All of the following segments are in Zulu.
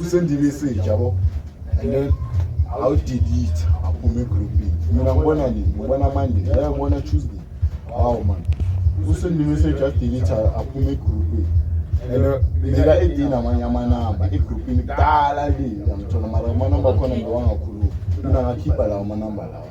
usendima esitsha yabo and then awudelete aphume egroupini mina ngibona nini ngibona monday yaye ngibona tuesday hawu mani usendima esitsha adelete aphume egroupini and uh, mina edini amanye amanamba egroupini kudala le yangithola mara amanamba akhona ngiwangakhuluma mina ngakhipha lawo amanamba lawa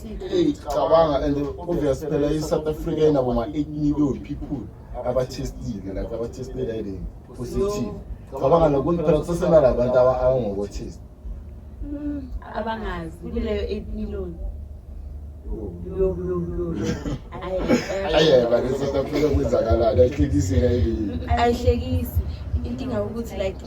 cabanga and obvious phela i-south africa inabo ma-eight million people abatestile like abatestela ile positive cabanga lokuthi phela kusesenala abantu abangokotest hmm, abangazi kuleyo eight million ayeba ke south africa kwenzakalani ayihlekisi ngayibili ayihlekisi inkinga ukuthi like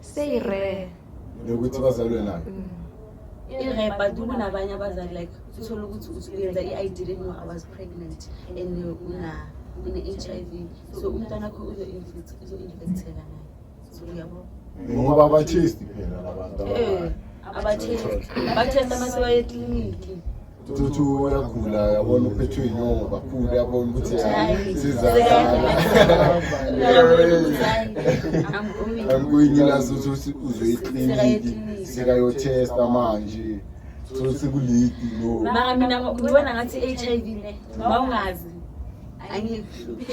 Say rare. Nokuthi bazalwe nayo. Mm. irep but kunabanye abazali like uthole ukuthi uyenza i-id leno i was pregnant and une-h i v so umntwana kho uzo-infecteka naye so uyabo ngoba abatesti phela labantu eh, abatesti abatesti amasewaye ekliniki Tutu uyagula yabona uphethwe inyongo kakhulu yabona ukuthi sizaaangikuyingilazi ukuthi uzwe ikliniki sekayothesta manje sosekulidi no mara mina ngibona ngathi i-h i v ne ma ungazi angikuhluphi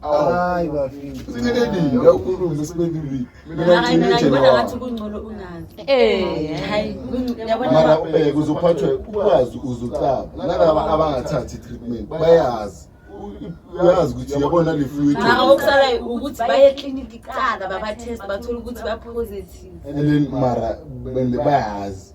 hayi bafika sineleni yakulunga sibelili mara ubheke uzophathwe ukwazi uzocaba nalaba abangathathi treatment bayazi uyazi ukuthi yabona le fluid mara okusalayo ukuthi baye ekliniki kuqala babatest bathole ukuthi bapositive and then mara bayazi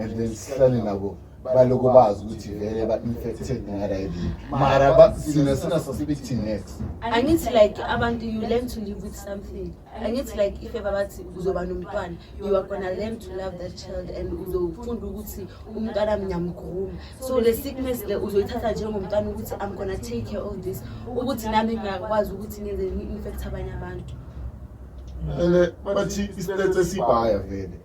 and then sihlale nabo baloko bazi ukuthi vele ba-infected ngalib mara sina sinaso sibithi next angithi like abantu you learn to live with something angithi like if ever bathi uzoba nomntwana you are gonna learn to love that child and uzofunda ukuthi umntwana mnyamgruma so le sickness le uzoyithatha njengomntwana ukuthi i'm gonna take care of this ukuthi nami ngiyakwazi ukuthi ngenze ni-infect abanye abantu and bathi isilete sibhaya vele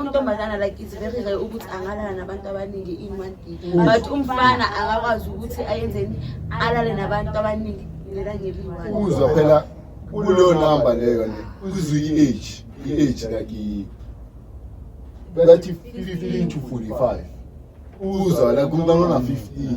untombazana like it's very rare ukuthi angalala nabantu abaningi in one day but umfana akakwazi ukuthi ayenzeni alale nabantu abaningi ngelangeliwani uzwa phela kuleyo number leyo ne uzwa i-age i-age like bathi 15 to 45 uzwa la kumntana ona 15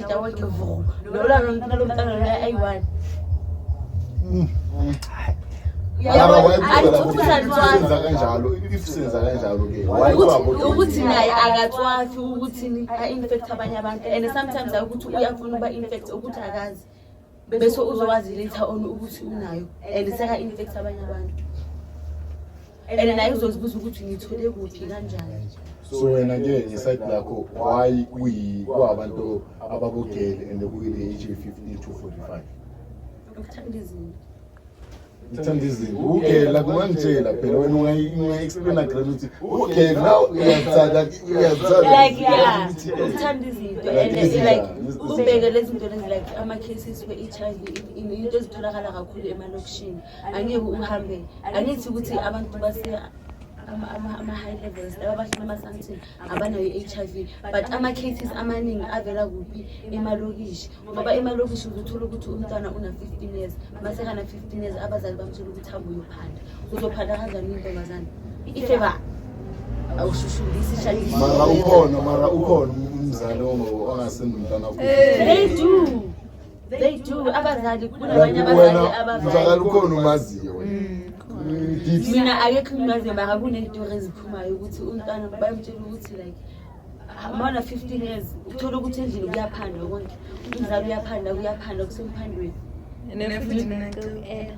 ukuthi naye akathwathi ukuthi a-infect abanye abantu and sometimes ukuthi uyafuna uba-infect ukuthi akazi bese uzowazi later on ukuthi unayo and seka infect abanye abantu and naye uzozibuza ukuthi ngithole kuphi kanjani so wena ke ngeside lakho why kuyiwabantu abakugele and kuyile-age 15 to 45 ukuthanda izinto ngithanda izinto ukugela kungangitshela phela wena ungayi-explaina grand ukuthi ukugela na uyazithanda uyazithanda like yeah uthanda izinto and like ubheke lezi zinto lezi like ama-cases we-h i v into ezitholakala kakhulu emalokishini angeke uhambe angithi ukuthi abantu base ama-high levels laba bahlala emasantini abanayo i-HIV but ama-cases amaningi avela kuphi emalokishi ngoba emalokishi uzothola ukuthi umntwana una-fifteen years masekana-fifteen years abazali bamthola ukuthi abuyophanda uzophanda kanjani intombazane ifeba awushushulisi mara ukhona mara ukhona umzali ongasenomntwana they do They do abazali kunabanye abazali abazali. Ngizakala ukhona umaziyo wena. Mina akekho ngimaziyo mara kunezitori eziphumayo ukuthi umntwana bayamtshela ukuthi like mawuna 15 years uthola ukuthi endlini kuyaphandwa konke umzali uyaphanda kuyaphanda kusemuphandweni. And then futhi mina ngicela.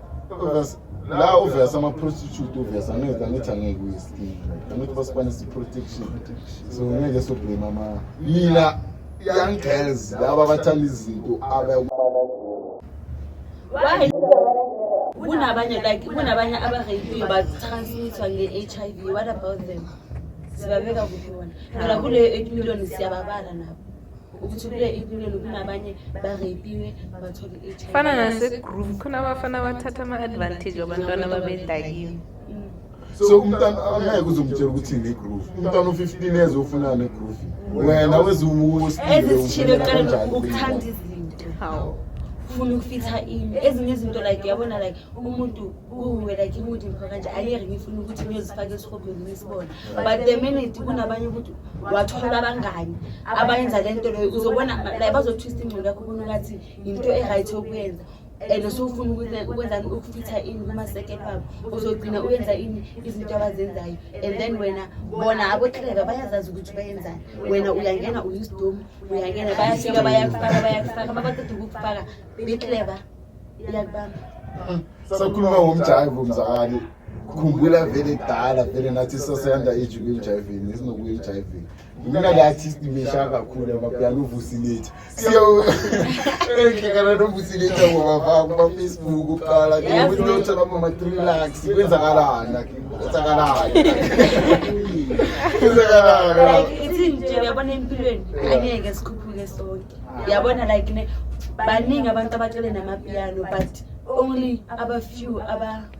la uvesa ama-prostitute uvesa angithi angithi angeke uyeskin angithi basibanisa i-protection so ngeke soblame ama mina young girls laba abathanda izinto kunabanye like kunabanye abarayipiyo batransmithwa nge-h i v what about them sibabeka kuphi bona phela kuleyo eight million siyababala nabo fana nasegroove khona abafana bathatha ama-advantage wabantwana babedakiwe so umntana angeke uzomtshela ukuthi ne-groove umntwana u-fifteen years ofuna ne-groove wena weziwuwosizishile kuqala ukuthanda izinto hawu funa ukufitha ini ezinye izinto like yabona like umuntu uwe like umuntu ngikho kanje ayeke ngifuna ukuthi ngiyozifaka esihobhweni ngisibona but the minute kunabanye ukuthi wathola abangani abayenza le nto leyo uzobona like bazotwista ingcondo yakho ubona ngathi yinto e-right yokuyenza and usufuna ukwenzani ukufitha ini kuma-second wabo uzogcina uyenza ini izinto abazenzayo and then wena bona abotleka bayazazi ukuthi bayenzani wena uyangena uyisidomu uyangena bayafika bayakufaka bayakufaka babaqeda ukukufaka betleba iyakubamba sakhuluma ngomjayivo mzakani khumbula vele kudala vele nathi saseyanda age kwi-hivini esinokuyi-hivini mina le artist misha kakhulu amapiano uvusilethi siyoehlekana novusilethi abobavako bafacebook kuqala ukuthi lothola mama-trilax kwenzakalani kwenzakalani kwenzakalani ithini nje uyabona empilweni angeke sikhuphuke sonke uyabona like ne baningi abantu abacele namapiano but only abafew aba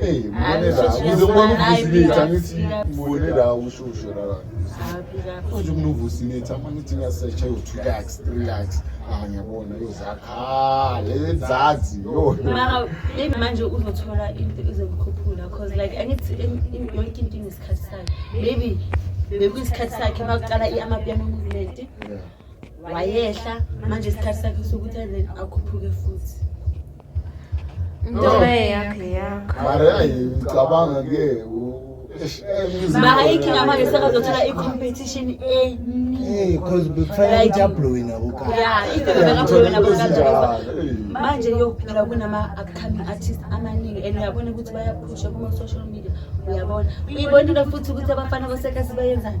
Hey, mbone la, ukuze ubone ukuvusiletha ngithi mbone la ushushu la. Manje umuntu uvusiletha uma ngithi ngiyasearcha yo 2 lakhs, 3 lakhs. Ah, ngiyabona yozakha lezazi yo. Mara maybe manje uzothola into ezokukhuphula because like angithi yonke into inesikhathi sayo. Maybe bekuyisikhathi sakhe makuqala i-amapiano movement. wayehla manje isikhathi sakhe sokuthi then akhuphuke futhi ntobe yakhe yakho mara yayi ngicabanga ke mahayi khinga manje sekazothola i-competition eningi because bekufanele ukuthi ablowe nabo ya ibebekablowe nabo manje yokuphela kunama-upcoming artist amaningi and uyabona ukuthi bayaphusha kuma-social media uyabona uyibona into futhi ukuthi abafana basekasi bayenzani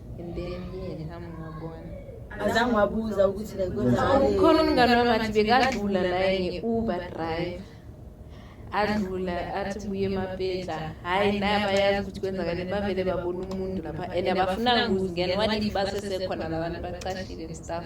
and then yeye ngihamngabona azange wabuza ukuthi like kwenzakaleni. ukhona umngane wami athi bekadlula naye nge-uber drive adlula athi buye emapetla hhayi naye abayazi ukuthi kwenzakaleni bavele babona umuntu lapha and abafunanga ukuzingena wadiba sesekhona labantu bacashile and stuff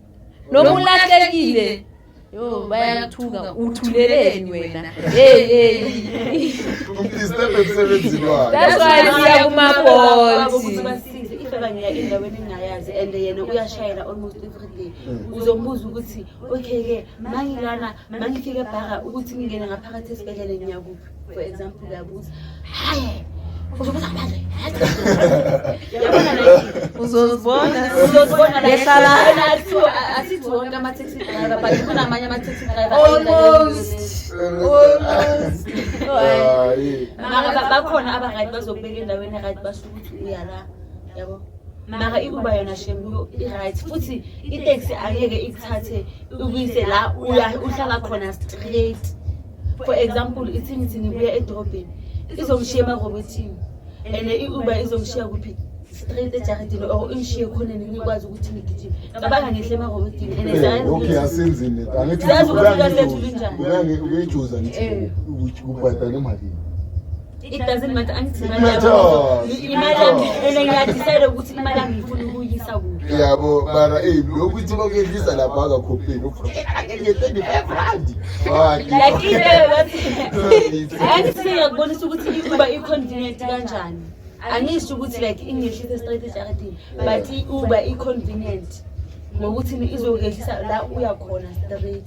noma ulahlekile yo bayakuthuka uthuleleni wena hey hey umdisturb emsebenzini wakhe that's why siya kuma bolt kanye endaweni engayazi and yena uyashayela almost every day mm. uzombuza ukuthi okay-ke mangilana mangifike ebhaka ukuthi ngingene ngaphakathi esibhedlele ngiyakuphi for example uyabuza hayi uzobuza manje yabona la uzozibona uzozibona la ehlala asithi wonke ama-taxi driver but khona amanye ama-taxi driver almost almost maka bakhona abangani bazokubeka endaweni right basho ukuthi uya la yabo maka i-uber yona shem i-right futhi iteksi angeke ikuthathe ukuyise la uhlala khona straight for example ithi ngithi ngibuya edorobheni izongishiya emarobotini and i-uber izongishiya kuphi straight ejaridini or ingishiye khona ngikwazi ukuthi ngigijime cabanga ngihle emarobotini and eh, okay asenzini angithi uyajuza ngithi eh. ubhadala emalini It doesn't matter angithi imali Matter. yabo. Imali yami and ngiyadecide ukuthi imali yami ngifuna ukuyisa kuphi. yabo mara eyi lokuthi bakuyehlisa lapha angakhopheli nge-twenty-five randi Like into yokuthi angithi sengiyakubonisa ukuthi i-Uber i-convenient kanjani. Angisho ukuthi like ingehlisa straight ejaradini but i-Uber i-convenient ngokuthi izokehlisa la uya khona straight.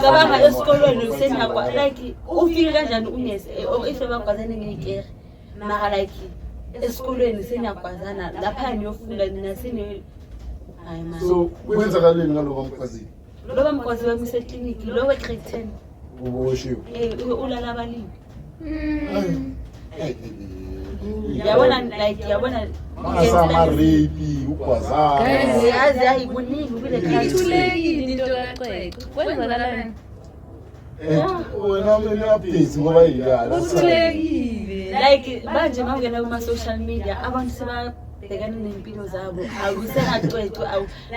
cabanga esikolweni usenakwa like ufike kanjani unesi if ebagwazane ngeyikere mara like esikolweni seniyagwazana lapha niyofunda nina seni hayi ma so kwenzakaleni ngaloba mgwazini loba mgwazi wami usekliniki lowe grade ten uboshiwe eh, ulala abalimi yabona like yabona angasamarepi ugwazayazi hayi kuningi kule ithulekile into kaxexe kwenzakalani eh, wena kumele update ngoba yiyala uthulekile like manje mawungena kuma-social media abantu seba bhekana nempilo zabo awusenacwecwe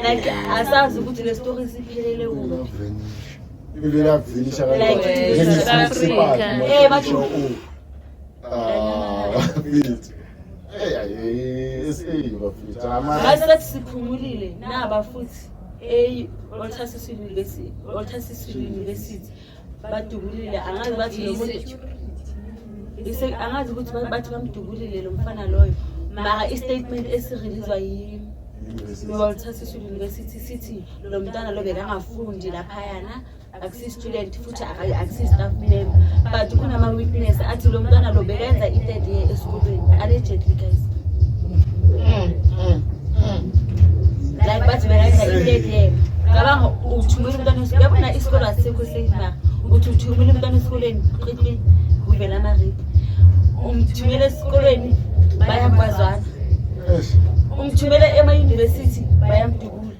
like asazi ukuthi le story siphelele kuphi ibile yavinisha kanjalo ayisethi siphumulile naba futhi eyi-oltasisi university badubulile angazi bathi nomuntu angazi ukuthi bathi bamdubulile lo mfana loyo mara i-statement esirelizwa yi-oltasisi university sithi lo mntwana lo bekangafundi laphayana akusi-student futhi akusi-staff member but kunama-witness athi lo mntwana lo bekenza i-third year esikolweni allegedly guys mm, mm, mm. like bathi bekenza i-third year cabanga uthumela umntwana yabona isikolo asikho safe na uthi uthumela umntwana esikolweni qini uvela amarip umthumela esikolweni bayakwazana umthumela emayunivesithi bayamdubula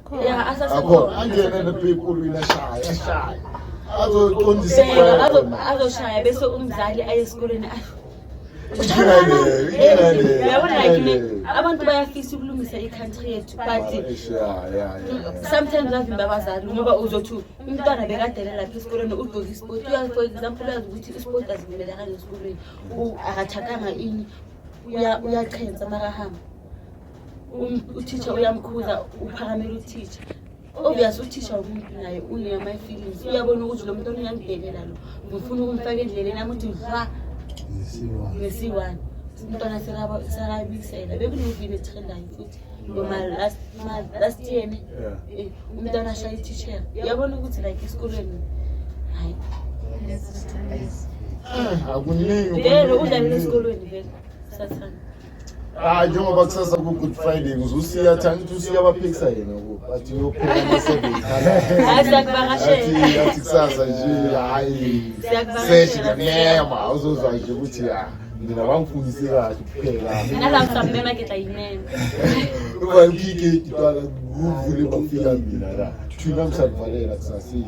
Yeah, asasekhona. Akho angene ne people uyashaya, ashaya. Azoqondisa Bheka, ikhona. azo- azoshaya bese umzali aye esikoleni ayi, Inkinga le, inkinga le. uyabona like inkinga le- le. abantu bayafisa ukulungisa i-country yethu but Eish, yeah, yeah, yeah, yeah. sometimes bavimba abazali ngoba uzothi umntwana bekadele lapha esikoleni ugqoke isport uyazi for example uyazi ukuthi isport azivumelekanga esikoleni U- akathakanga ini uya- uyachensa makahamba Um, uthisha uyamkhuza uphakamela uthisha obvious uthisha umuntu naye uneyama feelings uyabona ukuthi lo muntu oniyangibhekela lo ngifuna ukumfaka endleleni yami ukuthi ha ngesiwani umntwana sekabisela bekunovini esithendayo futhi noma last year ne eh, umntwana ashaya itishera uyabona ukuthi like esikolweni hayi ah, akuningi vele udlalele esikolweni vele sathana Ah, njengoba kusasa ku-good friday ngizosiya thani ukuthi usiya abaphikisa yena ukuba athi uyophela amasebenzi Hayi, siyakuvakashela. athi athi kusasa nje hhayi Siyakuvakashela. seshi nganema uzozwa nje ukuthi ya mina bangifundise kahle kuphela Nala ngisamema ke tla yinene. uba ukhike idibala kuvule bafika mina la thina msalivalela kusasile